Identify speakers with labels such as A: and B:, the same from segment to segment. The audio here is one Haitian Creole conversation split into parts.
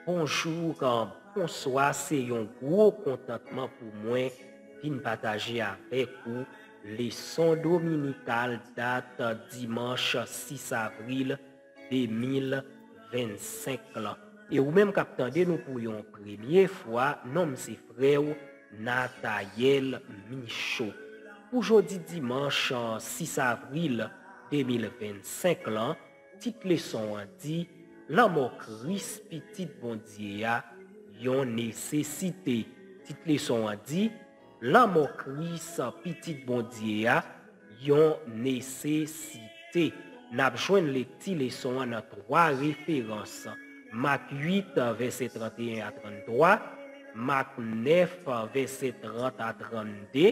A: Bonjour bonswa se yon gwo kontantman pou mwen vin pataje avèk ou leson dominical dat dimanch 6 avril 2025 lan e ou menm kap tande nou pou yon premye fwa non m se frè ou Nathael Michaud pou jodi dimanch 6 avril 2025 lan Tit leson an di, Lanmò Kris, Pitit Bondye a, yon nesesite. Tit leson an di, Lanmò Kris, Pitit Bondye a, yon nesesite. N ap jwenn lekti leson an nan twa referans, Mak 8, vèsè 31 a 33, Mak 9, vèsè 30 a 32,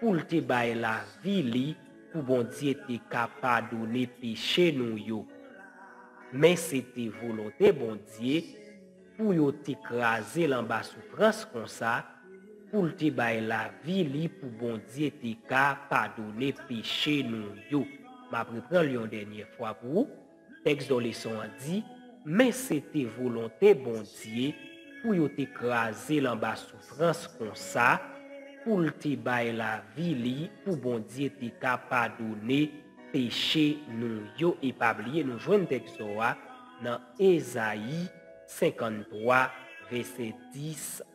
A: pou l te bay lavi li pou Bondye te ka padone peche nou yo. Men se te volonte Bondye pou yo te kraze l anba soufrans konsa, pou l te bay lavi li pou Bondye te ka padone peche nou yo. M ap repran l yon dènye fwa pou ou. Tèks do leson an di, Men se te volonte Bondye pou yo te kraze l anba soufrans konsa, pou l te bay lavi li pou Bondye te ka padone peche nou yo. E pa bliye nou jwenn tèks do a nan Ezayi 53 vèsè 10.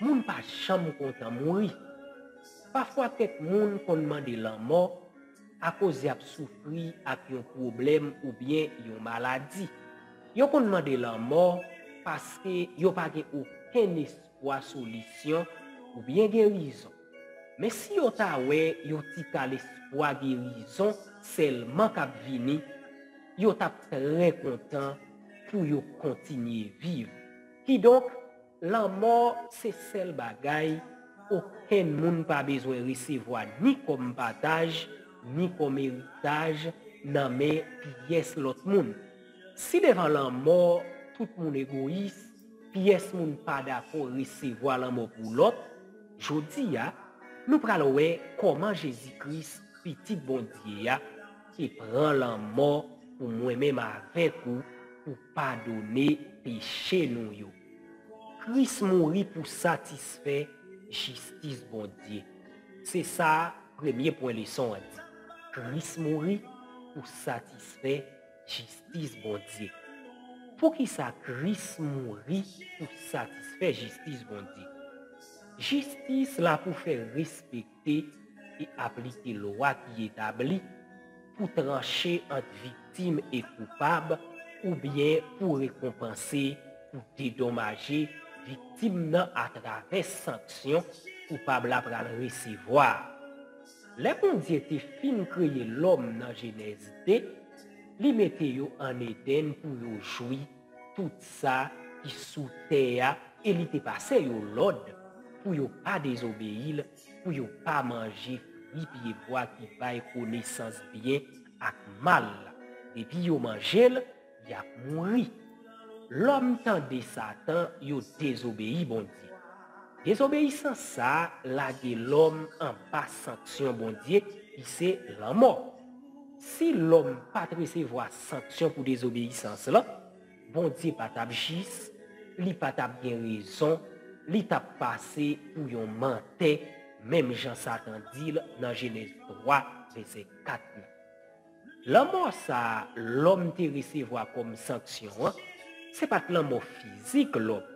A: Moun pa janm kontan mouri. Pafwa kèk moun konn mande lanmò akoz y ap soufri ak yon pwoblèm oubyen yon maladi. Yo konn mande lanmò paske yo pa gen okenn espwa solisyon oubyen gerizon. Men si yo ta wè yon ti kal espwa gerizon sèlman k ap vini, yo t ap trè kontan pou yo kontinye viv. Kidonk. Lanmò se sèl bagay okenn moun pa bezwen resevwa ni kòm pataj ni kòm eritaj nan men pyès lòt moun. Si devan lanmò tout moun egoyis, pyès moun pa dakò resevwa lanmò pou lòt, jodi a, nou pral wè kòman Jezi Kris, Pitit Bondye a, e pran lanmò pou mwen menm avèk ou pou padone peche nou yo. Kris mouri pou satisfè jistis Bondye. Se sa premye pwen leson an di. Kris mouri pou satisfè jistis Bondye. Poukisa Kris mouri pou satisfè jistis Bondye? Jistis la pou fè respekte. te te aplike lwa ki etabli pou tranche ant viktim e koupab oubyen pou rekonpanse pou dedomaje viktim nan atravè sanksyon koupab la pral resevwa. Lè Bondye te fin kreye lòm nan Jenèz 2, li mete yo ann Edenn pou yo jwi tout sa ki sou tè a e li te pase yo lòd pou yo pa dezobeyi l, pou yo pa manje fwi pyebwa ki bay konesans byen ak mal la. Depi yo manje l, y ap mouri. Lòm tande Satan, yo dezobeyi Bondye. Dezobeyisans sa a lage lòm anba sanksyon Bondye ki se lanmò. Si lòm pa t resevwa sanksyon pou dezobeyisans lan, Bondye pa t ap jis, li pa t ap gen rezon, li t ap pase pou yon mantè, menm jan Satan di l nan Jenèz 3, vèsè 4 la. Lanmò sa a lòm te resevwa kòm sanksyon an, se pa t lanmò fizik lòm,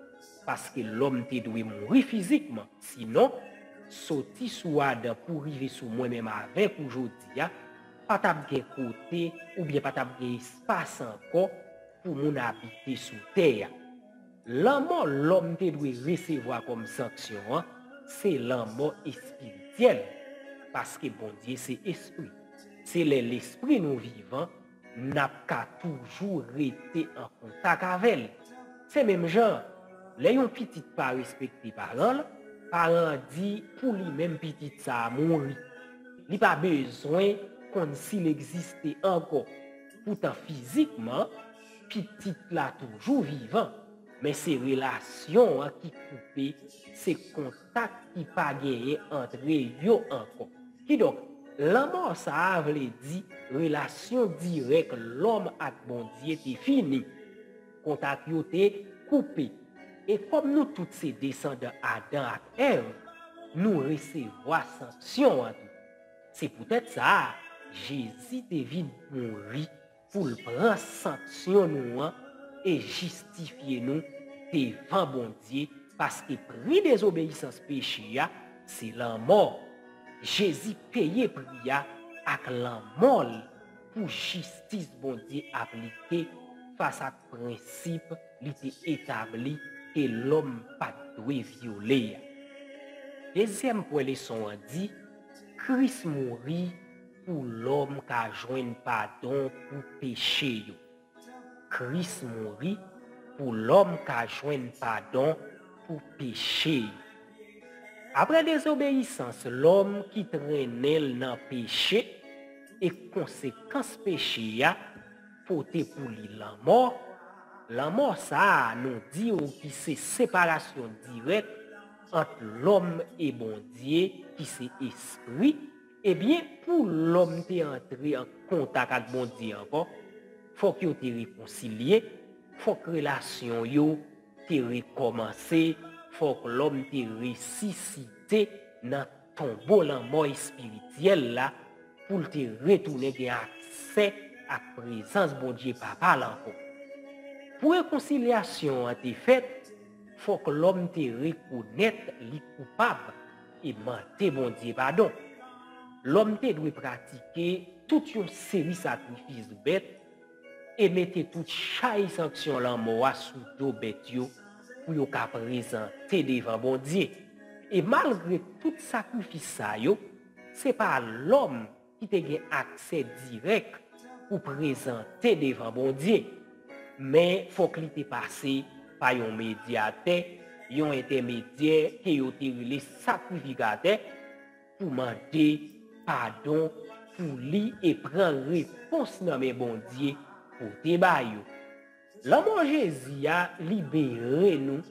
A: paske lòm te dwe mouri fizikman. Sinon, soti sou Adan pou rive sou mwen menm avèk ou jodi a, pa t ap gen kote oubyen pa t ap gen espas ankò pou moun abite sou tè a. Lanmò lòm te dwe resevwa kòm sanksyon an se lanmò espirityèl, paske Bondye se espri. Se lè lespri nou vivan N ap ka toujou rete an kontak avè l. Se menm jan an, lè yon pitit pa respekte paran l, paran an di pou li menm pitit sa a mouri. Li pa bezwen konn si l egziste ankò. Poutan fizikman, pitit la toujou vivan, men se relasyon an ki koupe, se kontak. kat ki pa genyen antre yo ankò. Kidonk, lanmò sa a vle di relasyon dirèk lòm ak Bondye te fini. Kontak yo te koupe. E kòm nou tout se desandan Adan ak Èv, nou resevwa sanksyon an tou. Se poutèt sa a, Jezi te vin mouri. pou l pran sanksyon nou an e jistifye nou devan Bondye, paske pri dezobeyisans peche a se lanmò. Jezi peye pri a ak lanmò l pou jistis Bondye aplike fas ak prensip li te etabli ke lòm pa t dwe vyole a. Dezyèm pwen leson an di, Kris mouri Pou lòm ka jwenn padon pou peche yo. Kris mouri pou lòm ka jwenn padon pou peche yo. Apre dezobeyisans lòm ki trennen l nan peche e konsekans peche a pote pou li lanmò, lanmò sa a nou di w ki se separasyon dirèk ant lòm e Bondye ki se espri, Ebyen, pou lòm te antre an kontak ak Bondye ankò, fòk yo te rekonsilye, fòk relasyon yo te rekòmanse, fòk lòm te resisite nan tonbo lanmò espirityèl la pou l te retounen gen aksè ak prezans Bondye Papa l ankò. Pou rekonsilyasyon an te fèt, fòk lòm te rekonèt li koupab. e mande Bondye padon. Lòm te dwe pratike tout yon seri sakrifis bèt e mete tout chay sanksyon lanmò a sou do bèt yo pou yo ka prezante devan Bondye. E malgre tout sakrifis sa yo, se pa lòm ki te gen aksè dirèk pou prezante devan Bondye, men fòk li te pase pa yon medyatè, yon entèmedyè ke yo te rele sakrifikatè, pou mande padon pou li e pran repons nan men Bondye pote ba yo. Lanmò Jezi a libere nou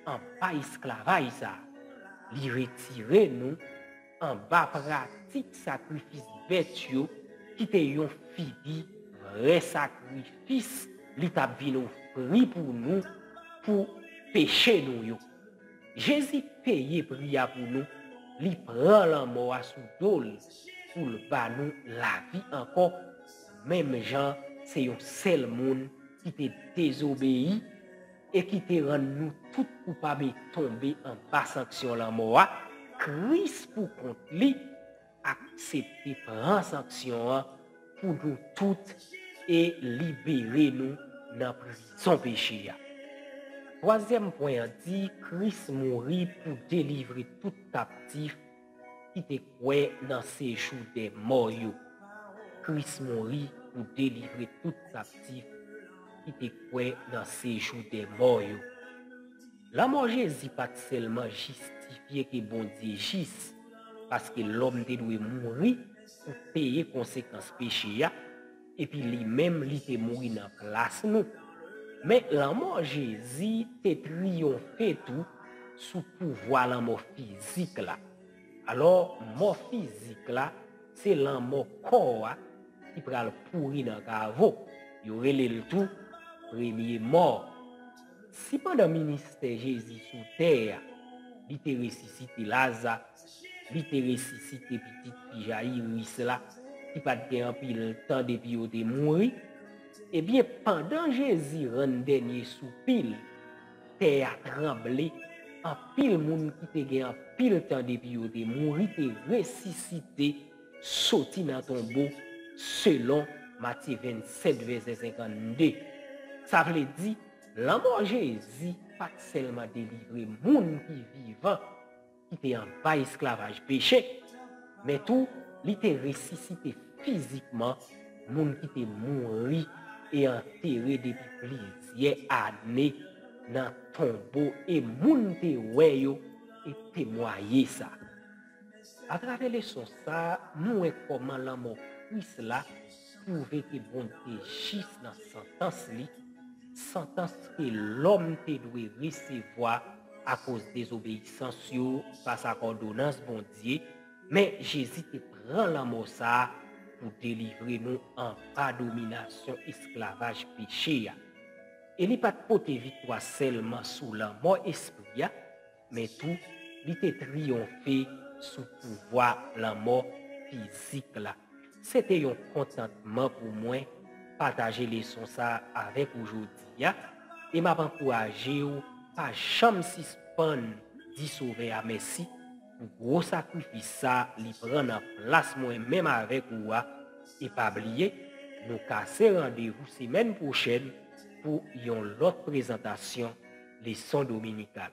A: anba esklavaj sa a. Li retire nou anba pratik sakrifis bèt yo ki te yon figi vrè sakrifis li t ap vin ofri pou nou pou peche nou yo. Jezi peye pri a pou nou, li pran lanmò a sou do l pou l ba nou lavi ankò. Menm jan se yon sèl moun ki te dezobeyi e ki te rann nou tout koupab e tonbe anba sanksyon lanmò a, Kris pou kont li aksepte pran sanksyon an pou nou tout e libere nou nan prizon peche a. Twazyèm pwen an di Kris mouri pou delivre tout kaptif, ki te kwè nan sejou dè mò yo. Kris mouri pou delivre tout kaptif ki te kwè nan sejou dè mò yo. Lanmò Jezi pa t sèlman jistifye ke Bondye jis paske lòm te dwe mouri pou peye konsekans peche a, Epi li menm li te mouri nan plas nou. Men lanmò Jezi te triyonfe tou sou pouvwa lanmò fizik la. Alò, mò fizik la se lanmò kò a ki pral pouri nan kavo. Yo rele l tou premye mò. Si pandan ministè Jezi sou tè a, li te resisite Laza, li te resisite pitit fi Jayiris la ki pa t gen anpil tan depi yo te mouri. Ebyen, pandan Jezi rann dènye soupi l, tè a tranble, anpil moun ki te gen anpil tan depi yo te mouri te resisite soti nan tonbo, selon Matye 27, vèsè 52. Sa vle di, lanmò Jezi pa t sèlman delivre moun ki vivan. ki te anba esklavaj peche, men tou li te resisite fizikman moun ki te mouri e antere depi plizyè ane nan tonbo e moun te wè yo te temwaye sa. Atravè leson sa a, nou wè kòman lanmò Kris la twouve ke Bondye jis nan santans li, santans ke lòm te dwe resevwa akoz dezobeyisans yo fas ak òdonans Bondye, men Jezi te pran lanmò sa a pou delivre nou anba dominasyon esklavaj peche a. E li pa t pote viktwa sèlman sou lanmò espri a, men tou li te triyonfe sou pouvwa lanmò fizik la. Se te yon kontantman pou mwen pataje leson sa a avèk ou jodi a, e m ap ankouraje w pa janm sispann di Sovè a mèsi pou gwo sakrifis sa li pran nan plas mwen menm avèk ou a, e pa bliye nou kase randevou semèn pwochèn. pou yon lòt prezantasyon leson dominikal.